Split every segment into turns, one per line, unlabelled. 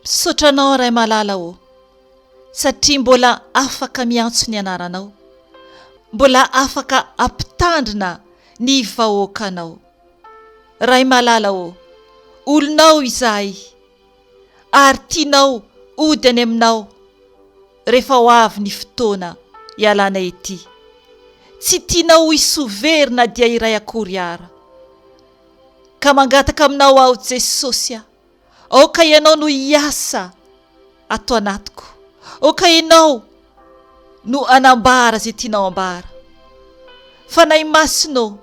Misaotra anao Ray malala ô satria mbola afaka miantso ny anaranao, mbola afaka ampitandrina ny vahoakanao. Ray malala ô, olonao izahay. ary tianao hody any aminao rehefa ho avy ny fotoana hialana ety. Tsy tianao ho isoa very na dia iray akory ara. Ka mangataka aminao aho Jesosy a! aoka ianao no hiasa ato anatiko, aoka ianao no hanambara izay tianao hambara. Fanahy Masina ô!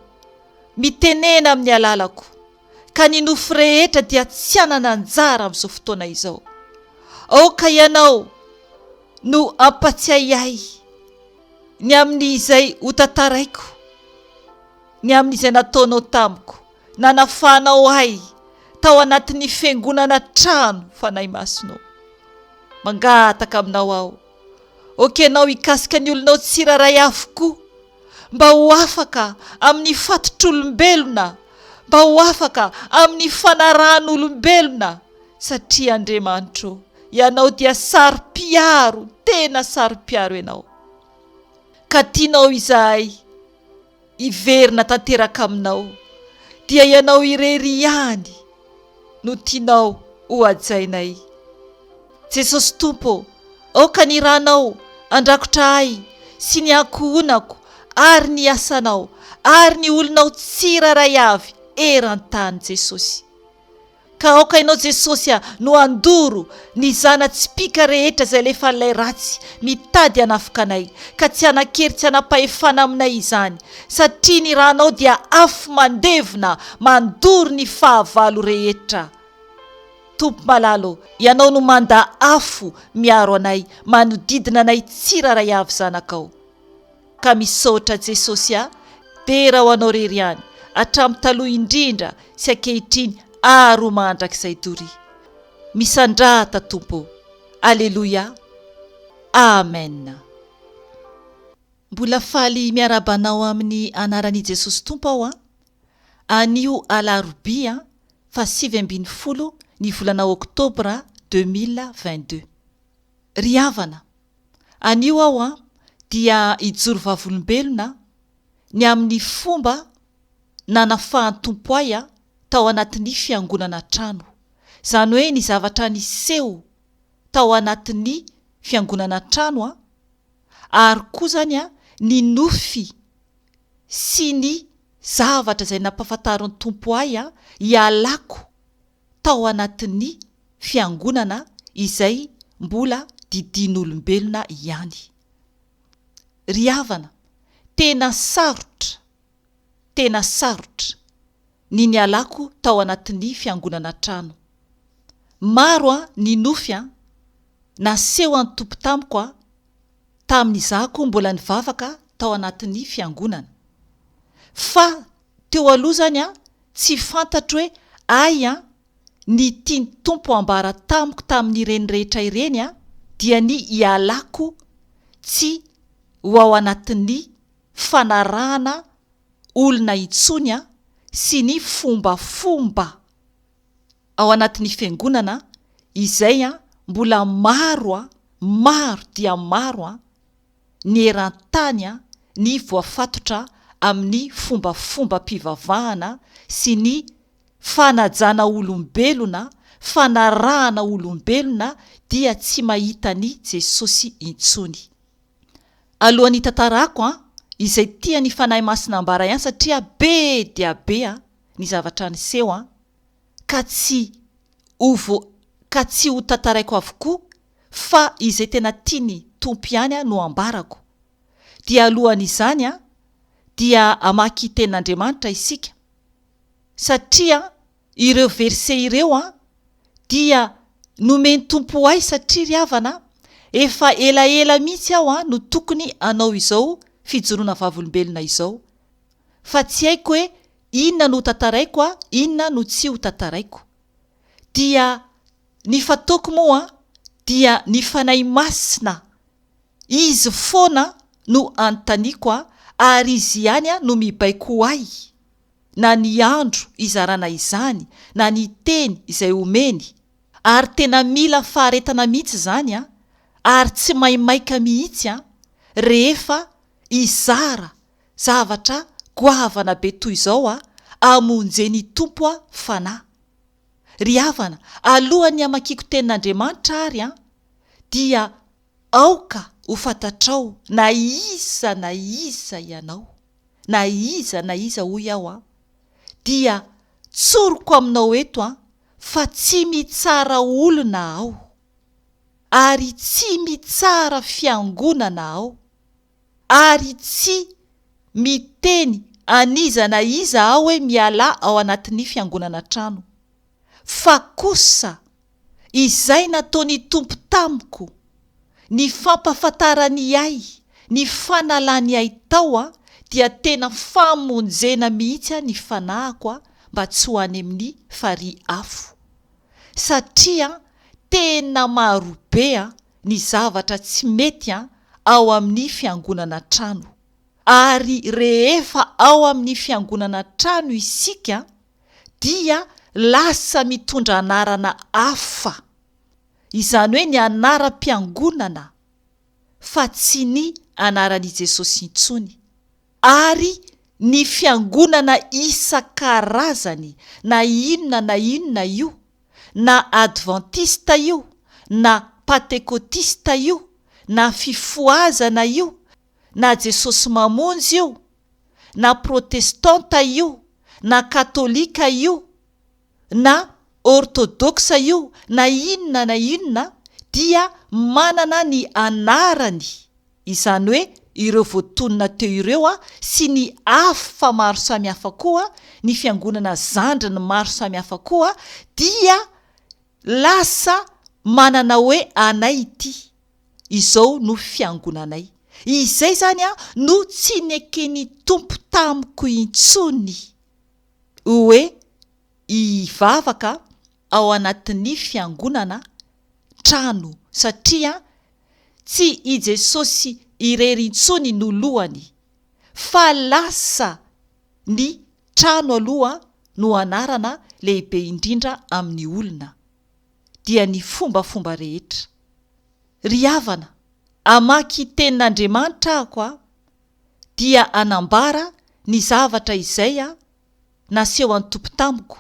mitenena amin'ny alalako. ka ny nofo rehetra dia tsy hanana anjara amin'izao fotoana izao. Aoka ianao no hampatsiahy ahy ny amin'izay hotantaraiko, ny amin'izay nataonao tamiko, nanafahanao ahy tao anatin'ny fiangonana trano Fanahy Masina ô. Mangataka aminao aho, okenao hikasika ny olonao tsirairay avokoa. mba ho afaka amin'ny fatotr'olombelona, mba ho afaka amin'ny fanarahan'olombelona, satria Andriamanitro, Ianao dia saro-piaro, tena saro-piaro Ianao. Ka tianao izahay hiverina tanteraka Aminao, dia Ianao irery ihany, no tianao ho hajainay. Jesosy Tompo ô, aoka ny Ranao handrakotra ahy sy ny ankohonako ary ny asanao ary ny olonao tsirairay avy eran-tany Jesosy. Ka aoka Ianao Jesosy no handoro Ny zana-tsipìka rehetra izay alefan'ilay ratsy mitady hanafoka anay, ka tsy hanan-kery tsy hanam-pahefana aminay izany, satria ny rànao dia afo mandevona mandoro ny fahavalo rehetra. Tompo malala ô, Ianao no manda afo miaro anay, manodidina anay tsirairay avy zanakao. Ka misaotra Jesosy a! Dera ho anao rery ihany hatramin'ny taloha indrindra sy ankehitriny ary ho mandrakizay doria! Misandrata Tompo ô! Aleloia! Amen! Mbola faly miarahaba anao amin'ny anaran'I Jesosy Tompo aho an! Anio alarobia faha sivy ambin'ny folo ny volana oktobra deux mille vingt-deux. Ry havana! Anio aho dia hijoro vavolombelona ny amin'ny fomba nanafahan'ny Tompo ahy tao anatin'ny fiangonana trano. Izany hoe ny zavatra niseho tao anatin'ny fiangonana trano ary koa izany ny nofy sy ny zavatra izay nampahafantarin'ny Tompo ahy hialako tao anatin'ny fiangonana izay mbola didian'olombelona ihany. Ry havana, tena sarotra, tena sarotra, ny nialako tao anatin'ny fiangonana trano. Maro an ny nofy an, naseho an'ny Tompo tamiko an, tamin'izahko mbola nivavaka tao anatin'ny fiangonana. Fa Teo aloha izany an, tsy fantatro hoe ay an, ny tian'ny Tompo hambara tamiko tamin'ireny rehetra ireny an, dia ny hialako tsy ho ao anatin'ny fanarahana olona intsony an, sy ny fombafomba ao anatin'ny Fiangonana izay an, mbola maro an, maro dia maro an, ny eran-tany, ny voafatotra amin'ny fombafombam-pivavahana sy ny fanajana olombelona, fanarahana olombelona dia tsy mahita an'i Jesosy intsony. Alohan'ny hitantarako an izay tian'ny Fanahy Masina hambara ihany satria be dia be an ny zavatra niseho an ka tsy ho ka tsy ho tantaraiko avokoa fa izay tena tiany Tompo ihany no ambarako, dia alohan' izany dia hamaky Tenin' Andriamanitra isika, satria ireo verset ireo dia nomen' Tompo ho ahy satria ry havana efa elaela mihitsy aho no tokony hanao izao fijoroana vavolombelona izao, fa tsy haiko hoe inona no ho tantaraiko inona no tsy ho tantaraiko, dia Ny fataoko moa dia ny Fanahy Masina Izy foana no anontaniako ary Izy ihany no mibaiko ho ahy na ny andro izarana izany na ny teny izay omeny ary tena mila faharetana mihitsy izany ary tsy maimaika mihitsy rehefa hizara zavatra goavana be toy izao hamonjeny Tompo Fanahy Ry havana, alohan'ny hamakiako Tenin'Andriamanitra àry an, dia aoka ho fantatrao na iza na iza ianao, na iza na iza hoy aho an, dia tsoriko aminao eto an, fa tsy mitsara olona aho, ary tsy mitsara fiangonana aho. Ary tsy miteny an'iza na iza aho hoe mialà ao anatin'ny fiangonana an-trano. Fa kosa, izay nataon'ny Tompo tamiko, ny fampahafantarany ahy, ny fanalany ahy tao, dia tena famonjena mihitsy ny fanahiko mba tsy ho any amin'ny farihy afo. Satria tena marobe ny zavatra tsy mety ao amin'ny fiangonana trano. Ary rehefa ao amin'ny fiangonana trano isika dia lasa mitondra anarana hafa, izany hoe ny anaram-piangonana fa tsy ny anaran'i Jesosy intsony. Ary ny fiangonana isan-karazany na inona na inona io na advantista io na patekotista io na fifohazana io na Jesosy Mamonjy io na protestanta io na katolika io na ortodoksa io na inona na inona dia manana ny anarany izany hoe ireo voatonona teo ireo sy ny afo fa maro samihafa koa ny fiangonana zandriny maro samihafa koa dia lasa manana hoe anay ity izao no fiangonanay izay izany no tsy neken'ny Tompo tamiko intsony hoe hivavaka ao anatin'ny fiangonana trano satria Tsy i Jesosy irery intsony no lohany, fa lasa ny trano aloha no anarana lehibe indrindra amin'ny olona, dia ny fombafomba rehetra. Ry havana, amaky Tenin'Andriamanitra aho aho, dia anambara ny zavatra izay naseho an'i Tompo tamiko,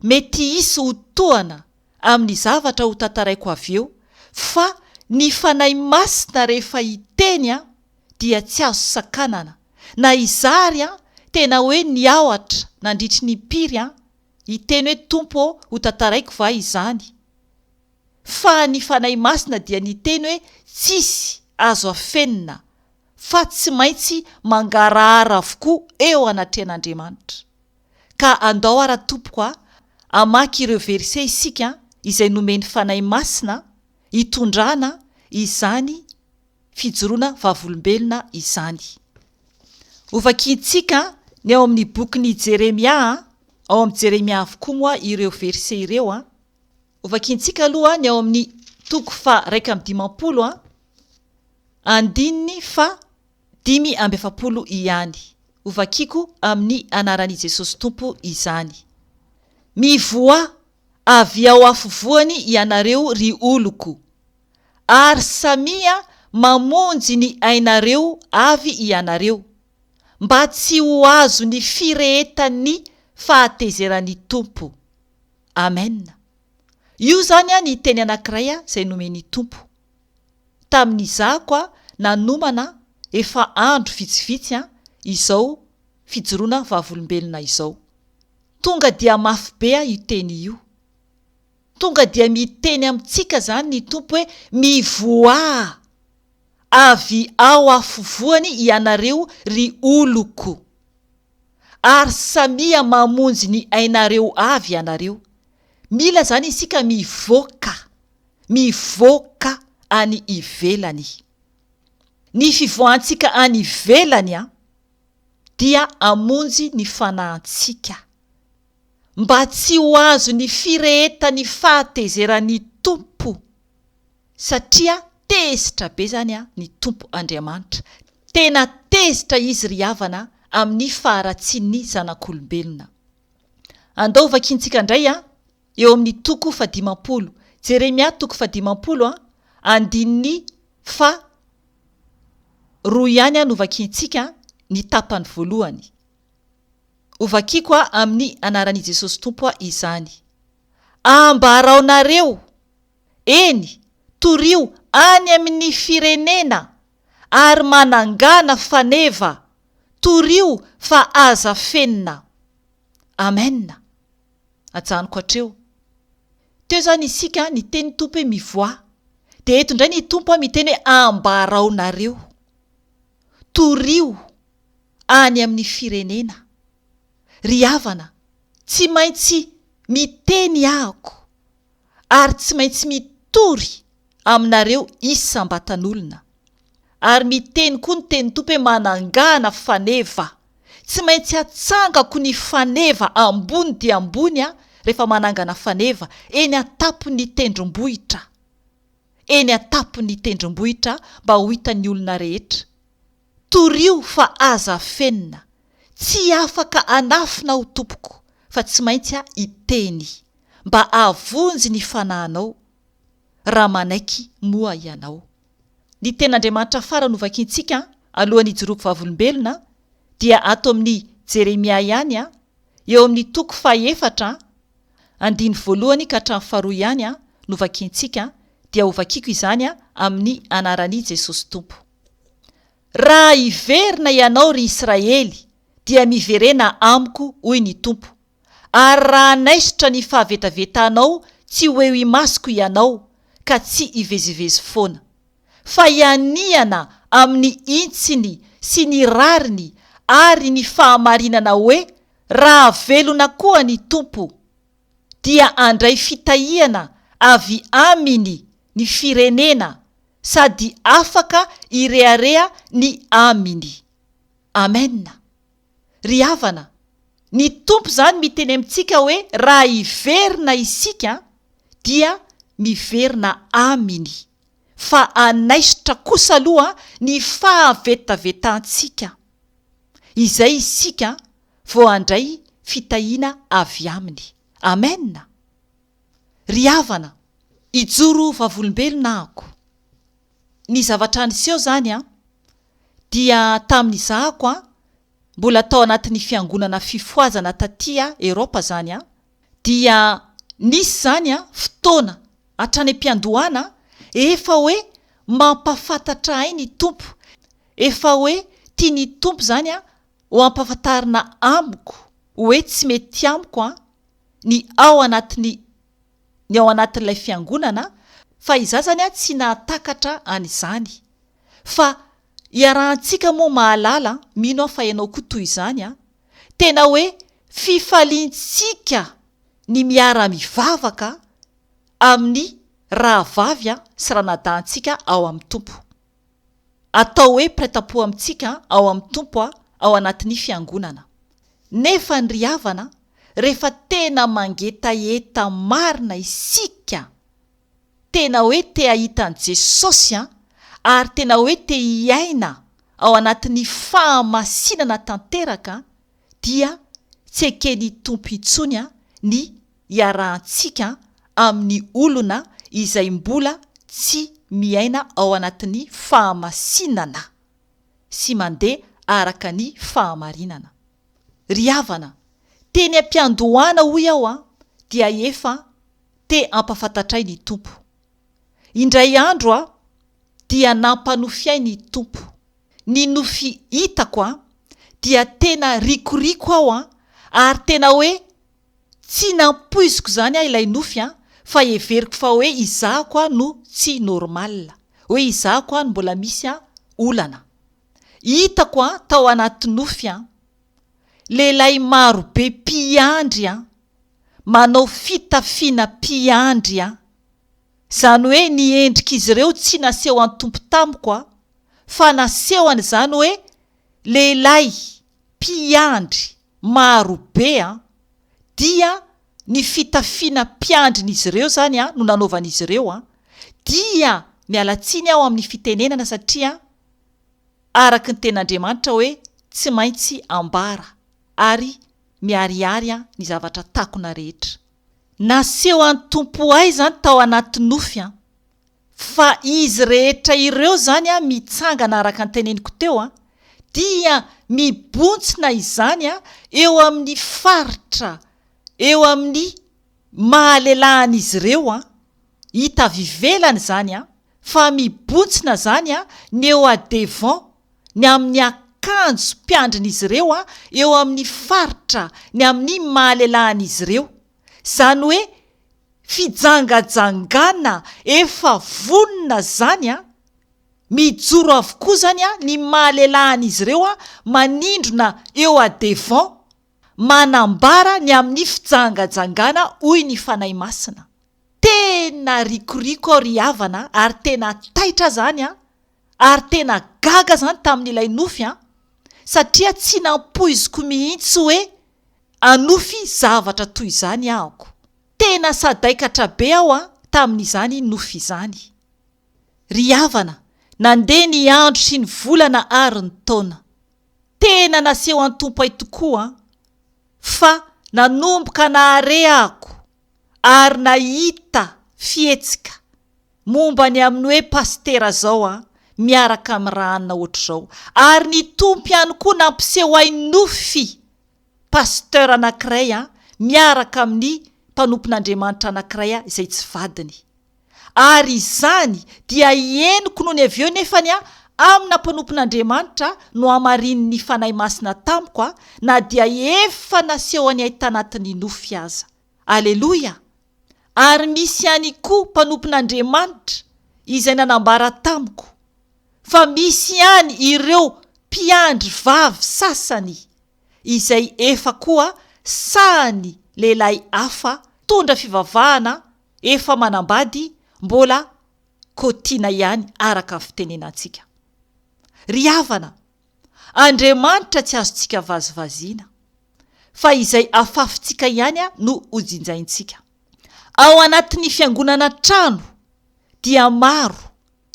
mety hisy ho tohana amin'ny zavatra ho tantaraiko avy eo, fa ny Fanahy Masina rehefa hiteny an, dia tsy azo sakanana, na izary an, tena hoe niaohatra nandritry ny impiry an, hiteny hoe Tompo ô ho tantaraiko va izany? fa ny Fanahy Masina dia niteny hoe tsisy azo afenina fa tsy maintsy mangarahara avokoa eo anatrehan'Andriamanitra. Ka andao ara tompoko a, hamaky ireo verset isika izay nomen'ny Fanahy Masina hitondrana izany fijoroana vavolombelona izany. Hovakiantsika ny ao amin'ny bokin'i Jeremia, ao amin'i Jeremia avokoa moa ireo verset ireo a. Hovakiantsika aloha ny ao amin'ny toko faha iraika amby dimampolo a. Andininy faha dimy amby efapolo ihany. Hovakiko amin'ny anaran'i Jesosy Tompo izany. Mivoaha avy ao afovoany ianareo ry oloko, ary samia mamonjy ny ainareo avy ianareo, mba tsy ho azon'ny firehetan'ny fahatezeran'ny Tompo. Amen. Io izany ny teny anankiray izay nomen'ny Tompo. tamin'izaho koa nanomana efa andro vitsivitsy izao fijoroana vavolombelona izao. Tonga dia mafy be aho io teny io. Tonga dia miteny amintsika izany ny Tompo hoe mivoaha avy ao afovoany ianareo ry oloko. ary samia mamonjy ny ainareo avy ianareo, mila zany isika mivoaka, mivoaka any ivelany. Ny fivoahantsika any ivelany an, dia hamonjy ny fanahintsika, mba tsy ho azon'ny firehetan'ny fahatezeran'ny Tompo. satria tezitra be izany an ny Tompo Andriamanitra, tena tezitra Izy ry havana amin'ny faharatsian'ny zanak'olombelona. Andao ho vakiantsika indray an, eo amin'ny toko faha dimampolo, Jeremia toko faha dimampolo an, andininy faha roa ihany an no vakiantsika ny tapany voalohany. Ho vakiako an amin'ny anaran'i Jesosy Tompo an izany. Ambaraonareo! Eny, torio any amin'ny firenena ary manangana faneva, torio fa aza fenina. Amen. Ajanoko hatreo. Teo izany isika niteny ny Tompo hoe mivoaha, dia eto indray ny Tompo miteny hoe ambaraonareo. Torio any amin'ny firenena. Ry havana, tsy maintsy miteny ahako. ary tsy maintsy mitory aminareo isam-batan'olona. Ary miteny koa ny tenin'ny Tompo hoe manangana faneva. Tsy maintsy atsangako ny faneva ambony dia ambony aho rehefa manangana faneva eny an-tampon'ny tendrombohitra, eny an-tampon'ny tendrombohitra mba ho hitan'ny olona rehetra. Torio fa aza afenina. Tsy afaka anafina aho tompoko fa tsy maintsy aho hiteny mba hahavonjy ny fanahinao raha manaiky moa ianao. Ny tenin'Andriamanitra farany ho vakintsika alohan'ny hijoroako vavolombelona dia ato amin'ny Jeremia ihany eo amin'ny toko fahefatra andiny voalohany ka hatramin'ny faharoa ihany no vakintsika dia ho vakiako izany amin'ny anaran'i Jesosy Tompo. Raha hiverina ianao, ry Israely, dia miverena amiko, hoy ny Tompo, ary raha hanaisotra ny fahavetavetanao tsy ho eo imasoko ianao, ka tsy hivezivezy foana. Fa hianiana amin'ny hintsiny sy ny rariny ary ny fahamarinana hoe, Raha velona koa ny Tompo! dia handray fitahiana avy aminy ny firenena sady afaka hirehareha ny aminy. Amen. Ry havana, ny Tompo izany miteny amintsika hoe raha hiverina isika dia miverina aminy. fa hanaisotra kosa aloha ny fahavetavetantsika, izay isika vao handray fitahiana avy Aminy. Amen! Ry havana, hijoro vavolombelona ako. Ny zavatra niseho izany dia tamin'izahako mbola tao anatin'ny fiangonana fifohazana taty Eropa izany. Dia nisy izany fotoana hatrany am-piandohana efa hoe mampafantatra ahy ny Tompo, efa hoe tian'ny Tompo izany ho ampafantarina amiko hoe tsy mety amiko ny ao anatin'ny ny ao anatin'ilay fiangonana fa izaho izany tsy nahatakatra an'izany. Fa iarahantsika moa mahalala, mino aho fa ianao koa toy izany, Tena hoe fifaliantsika ny miara-mivavaka amin'ny rahavavy sy ranadahintsika ao amin'ny Tompo. Atao hoe prêt-à-pot amintsika ao amin'ny Tompo ao anatin'ny Fiangonana. Nefa ny ry havana, rehefa tena mangetaheta marina isika, Tena hoe te hahita an'i Jesosy an! Ary tena hoe te hiaina ao anatin'ny fahamasinana tanteraka an! Dia tsy eken'ny Tompo intsony an ny iarahantsika amin'ny olona izay mbola tsy miaina ao anatin'ny fahamasinana sy mandeha araka ny fahamarinana. Ry havana, teny am-piandohana hoy aho an, dia efa te hampafantatray ny Tompo. Indray andro an, dia nampanofiay ny Tompo. Ny nofy hitako an, dia tena rikoriko aho an, ary tena hoe Tsy nampoiziko izany aho ilay nofy an! Fa heveriko fa hoe izaho koa no tsy normal. Hoe izaho koa no mbola misy an olana. Hitako an tao anaty nofy an! Lehilahy maro be mpiandry an! Manao fitafiana mpiandry an! Izany hoe ny endrik'izy ireo tsy nasehon'ny Tompo tamiko an! Fa nasehony izany hoe Lehilahy mpiandry maro be an! dia ny fitafiana mpiandrin'izy ireo izany an no nanaovan'izy ireo an! dia miala tsiny aho amin'ny fitenenana satria araka ny tenin'Andriamanitra hoe tsy maintsy ambara ary miharihary an ny zavatra takona rehetra nasehoan'ny Tompo ahy izany tao anaty nofy an! Fa izy rehetra ireo izany an, mitsangana araka ny teneniko teo an, dia mibontsina izany an, eo amin'ny faritra, eo amin'ny mahalelahan'izy ireo an, hita avy ivelany izany an, fa mibontsina izany an, ny eo a-devant, ny amin'ny akanjom-piandrin'izy ireo an, eo amin'ny faritra, ny amin'ny mahalelahan'izy ireo. Zany hoe fijangajangana efa vonona zany an! Mijoro avokoa zany an ny maha lelah an'izy ireo an manindrona eo a devant manambara ny amin'ny fijangajangana hoy ny Fanahy Masina. Tena rikoriko aho ry havana ary tena taitra zany an! Ary tena gaga zany tamin'ilay nofy an! Satria tsy nampoiziko mihitsy hoe anofy zavatra toy izany ahako. Tena sadaikatra be aho an tamin'izany nofy izany. Ry havana, nandeha ny andro sy ny volana ary ny taona. Tena naseho an-tompo ahy tokoa an! Fa nanomboka nahare ahako ary nahita fihetsika. Momba ny amin'ny hoe pasitera zao an, miaraka amin'ny raha anona ohatr'izao. Ary ny Tompo ihany koa nampiseho ahy nofy pasteur anankiray an, miaraka amin'ny mpanompon'Andriamanitra anankiray an, izay tsy vadiny. Ary izany dia henoko nony avy eo nefany an, amina mpanompon'Andriamanitra no hamarinin'ny Fanahy Masina tamiko an, na dia efa nasehony ahy tanatin'ny nofy aza. Aleloia! ary misy ihany koa mpanompon'Andriamanitra izay nanambara tamiko fa misy ihany ireo mpiandry vavy sasany izay efa koa sahan'ny lehilahy hafa mpitondra fivavahana efa manambady mbola kotiana ihany araka ny fitenenantsika ry havana Andriamanitra tsy azontsika vazivaziana, fa izay afafintsika ihany no hojinjaintsika. Ao anatin'ny fiangonana an-trano dia maro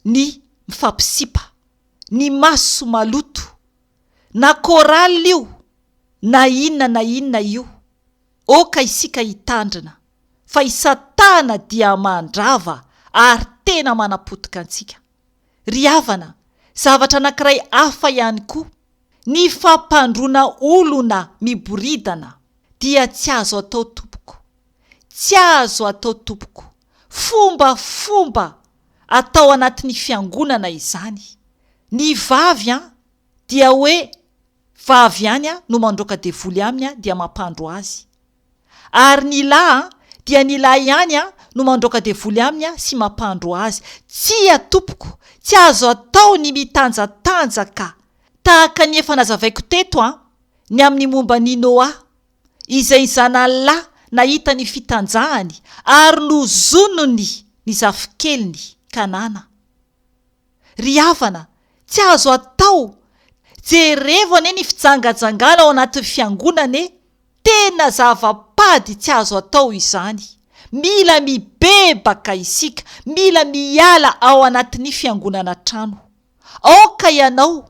ny mifampisipa, ny maso maloto, na chorale io na inona na inona io, oka isika hitandrina fa i satana dia mandrava ary tena manapotika antsika. Ry havana, zavatra anankiray hafa ihany koa, ny fampandroana olona miboridana dia tsy azo atao tompoko. Tsy azo atao tompoko. Fombafomba atao anatin'ny fiangonana izany. Ny vavy an, dia hoe vavy ihany an no mandroaka devoly aminy an dia mampandro azy. Ary ny lahy an, dia ny lahy ihany an no mandroaka devoly aminy an sy mampandro azy. Tsia tompoko, tsy azo atao ny mitanjatanjaka. Tahaka ny efa nazavaiko teto an, ny amin'ny momba an'i Noa, izay ny zanany lahy nahita ny fitanjahany ary nozonony ny zafikeliny, Kanana. Ry havana, tsy azo atao! Jerevo anie ny fijangajangana ao anatin'ny fiangonana e! Tena zava-pady tsy azo atao izany. Mila mibebaka isika, mila miala ao anatin'ny fiangonana an-trano. Aoka ianao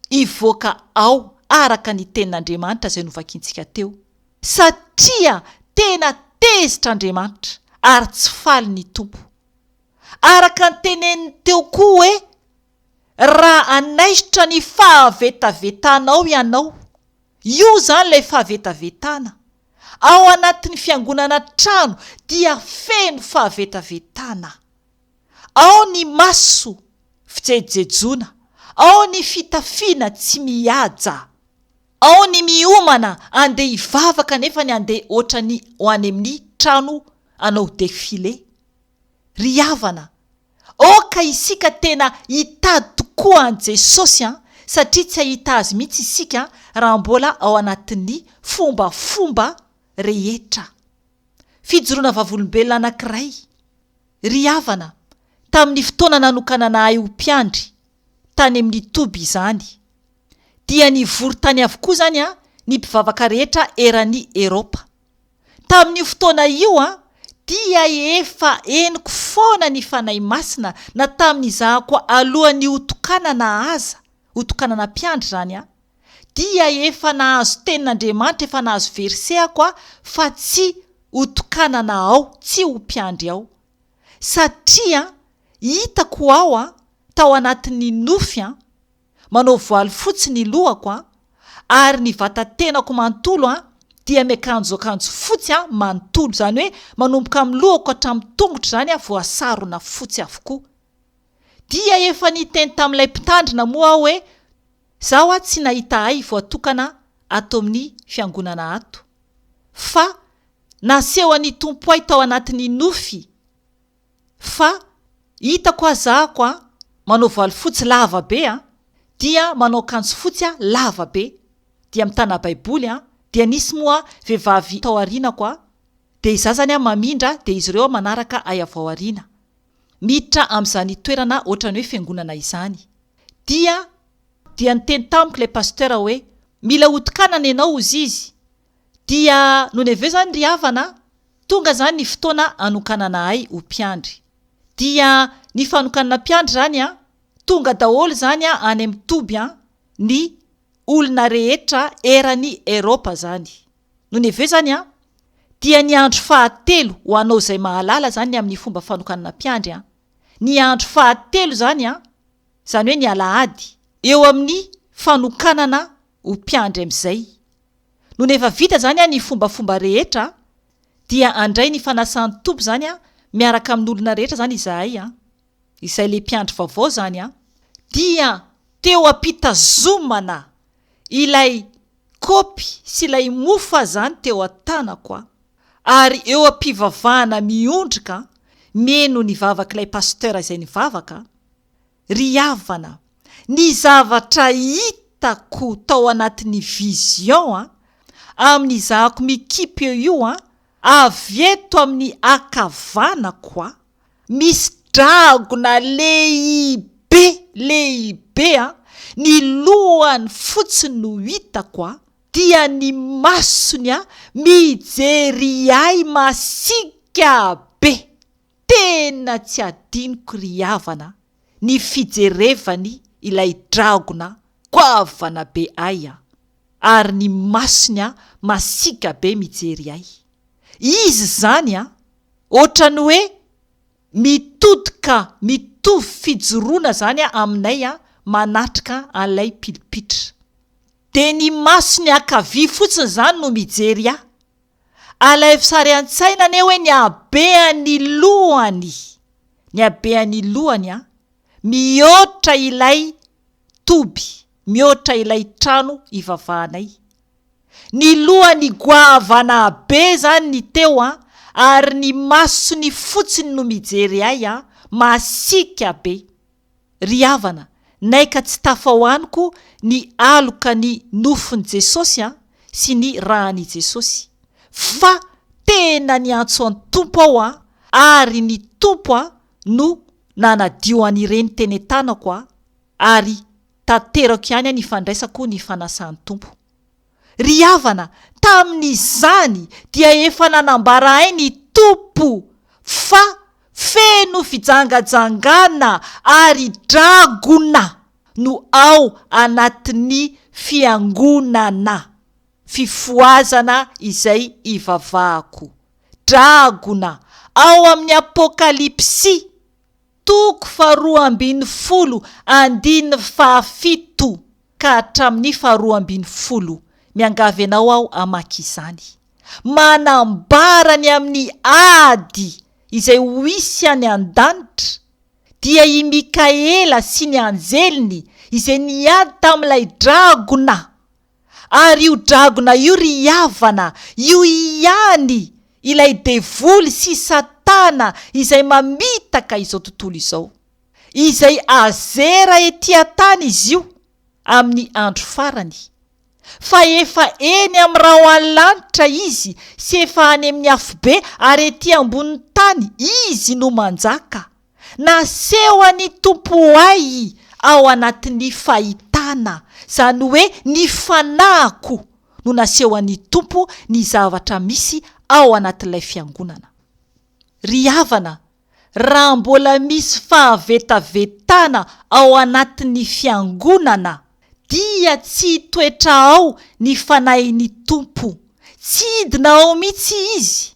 hivoaka ao araka ny Tenin'Andriamanitra izay novakintsika teo. Satria tena tezitra Andriamanitra ary tsy faly ny Tompo. araka ny teneniny teo koa hoe, Raha hanaisotra ny fahavetavetanao ianao, io izany ilay fahavetavetana, ao anatin'ny fiangonana trano dia feno fahavetavetana. Ao ny maso fijejejona, ao ny fitafiana tsy mihaja, ao ny miomana andeha hivavaka nefa ny andeha ohatran'ny ho any amin'ny trano hanao défilé. Ry havana, aoka isika tena hitady tokoa an'i Jesosy an, satria tsy hahita Azy mihitsy isika raha mbola ao anatin'ny fombafomba rehetra. Fijoroana vavolombelona anankiray. Ry havana, tamin'ny fotoana nanokanana ahy ho mpiandry, tany amin'ny toby izany, dia nivory tany avokoa izany ny mpivavaka rehetra eran'i Eropa. Tamin'io fotoana io dia efa henoko foana ny Fanahy Masina na tamin'ny izahako alohan'ny hotokanana aza, hotokanana mpiandry izany aho, dia efa nahazo tenin'Andriamanitra, efa nahazo verset ako aho fa tsy hotokanana ao, tsy ho mpiandry ao. Satria hitako ao, tao anatin'ny nofy, manao voaly fotsy ny lohako an, ary ny vatatenako manontolo an dia miakanjo akanjo fotsy an manontolo, izany hoe manomboka amin'ny lohako hatramin'ny tongotra izany an voasarona fotsy avokoa. Dia efa niteny tamin'ilay mpitandrina moa aho hoe izaho an tsy nahita ahy voatokana ato amin'ny fiangonana ato, fa nasehon'ny Tompo ahy tao anatin'ny nofy, fa hitako aho zahako a manao valifotsy lava be a dia manao akanjo fotsy a lava be dia mitana baiboly a dia nisy moa vehivavy tao arinako a dia izaho zany a mamindra dia izy ireo a manaraka ay avao arina miditra amzany toerana otrany hoe fiangonana izany dia dia niteny tamiko ilay pasteur hoe mila hotokanana ianao ozizy dia nony avy eo izany ry havana tonga izany ny fotoana hanokanana ahy ho mpiandry. Dia ny fanokanana mpiandry izany an, tonga daholo izany any amin'ny toby an, ny olona rehetra eran'i Eropa izany. Nony avy eo izany an, dia ny andro fahatelo ho anao izay mahalala izany ny amin'ny fomba fanokanana mpiandry an, ny andro fahatelo izany an, izany hoe ny alahady, eo amin'ny fanokanana ho mpiandry amin'izay Nony efa vita izany ny fombafomba rehetra dia handray ny fanasan'ny Tompo izany miaraka amin'olona rehetra izany izahay, izay le mpiandry vaovao izany dia teo am-pitazomana ilay kopy sy ilay mofo azany teo an-tanako ary eo am-pivavahana miondrika mieno ny vavak'ilay pasteur izay nivavaka, Ry havana, ny zavatra hitako tao anatin'ny vision a, amin'ny izahako mikipy eo io a, avy eto amin'ny akavanako a, misy dragona lehibe, lehibe a, ny lohany fotsiny no hitako a, dia ny masony a, mijery ahy masiaka be. Tena tsy adinoko ry havana ny fijerevany ilay dragona goavana be ay a! ary ny masony a masiaka be mijery ay! izy zany a! otrany hoe mitodika mitovy fijoroana zany a aminay a manatrika an'ilay pilipitra! de ny masony ankavia fotsiny zany no mijery ahy! Alaivo sary an-tsaina anie hoe ny habean'ny lohany, ny habean'ny lohany an, mihoatra ilay toby, mihoatra ilay trano ivavahanay. Ny lohany goavana be izany ny teo an, ary ny masony fotsiny no mijery ahy an, masiaka be. Ry havana, nay ka tsy tafao anoko ny aloka ny nofon'i Jesosy an, sy ny ran'i Jesosy. Fa tena niantso an'i Tompo aho an, ary ny Tompo an no nanadio an'ireny tene tanako an, ary tanterako ihany an ifandraisako ny fanasan'i Tompo. Ry havana, tamin'izany dia efa nanambaraay ny Tompo fa feno fijangajangana ary dragona no ao anatin'ny Fiangonana. Fifohazana izay ivavahako. Dragona ao amin'ny Apokalypsy. Toko faharoa ambin'ny folo andininy fahafito ka hatramin'ny faharoa ambin'ny folo, miangavy anao aho hamaky izany, manambara ny amin'ny ady izay ho hisy any an-danitra, dia i Mikaela sy ny anjeliny izay niady tamin'ilay dragona, Ary io dragona io ry havana, io ihany ilay devoly sy satana izay mamitaka izao tontolo izao, izay azera ety an-tany izy io amin'ny andro farany, fa efa eny amin'ny rahoalanitra izy sy efa any amin'ny afobe ary ety ambonin'ny tany izy no manjaka. Naseho an'i Tompoay ao anatin'ny fahitana, izany hoe ny fanahiko no naseho an'i Tompo ny zavatra misy ao anatin'ilay fiangonana. Ry havana, raha mbola misy fahavetavetana ao anatin'ny fiangonana, dia tsy toetra ao ny fanahin'i Tompo, tsy hidina ao mihitsy Izy,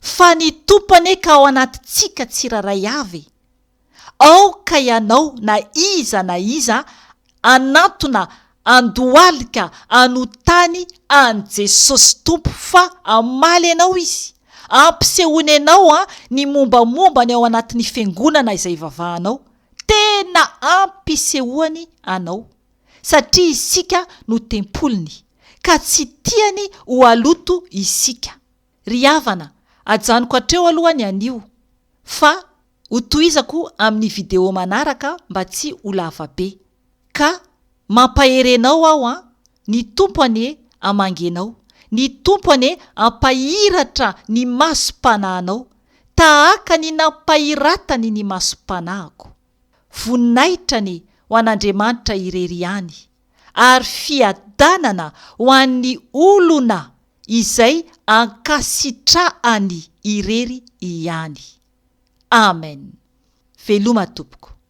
fa ny Tompo anie ka ao anatintsika tsirairay avy e! aoka ianao na iza na iza anantona andohalika anotany an'i Jesosy Tompo fa hamaly anao Izy, ampisehoany anao ny mombamombany ao anatin'ny fiangonana izay ivavahanao, tena ampisehoany anao satria isika no tempoliny. ka tsy tiany ho haloto isika. Ry havana, ajanoko hatreo aloha ny anio fa ho tohizako amin'ny video manaraka mba tsy ho lava be. Ka mampahery enao aho an! Ny Tompo anie hamangy enao, ny Tompo anie hampahiratra ny masom-panahinao tahaka ny nampahiratany ny masom-panahiko. Voninahitra anie ho an'Andriamanitra irery ihany. ary fiadanana ho an'ny olona izay ankasitrahany irery ihany. Amen. Veloma tompoko.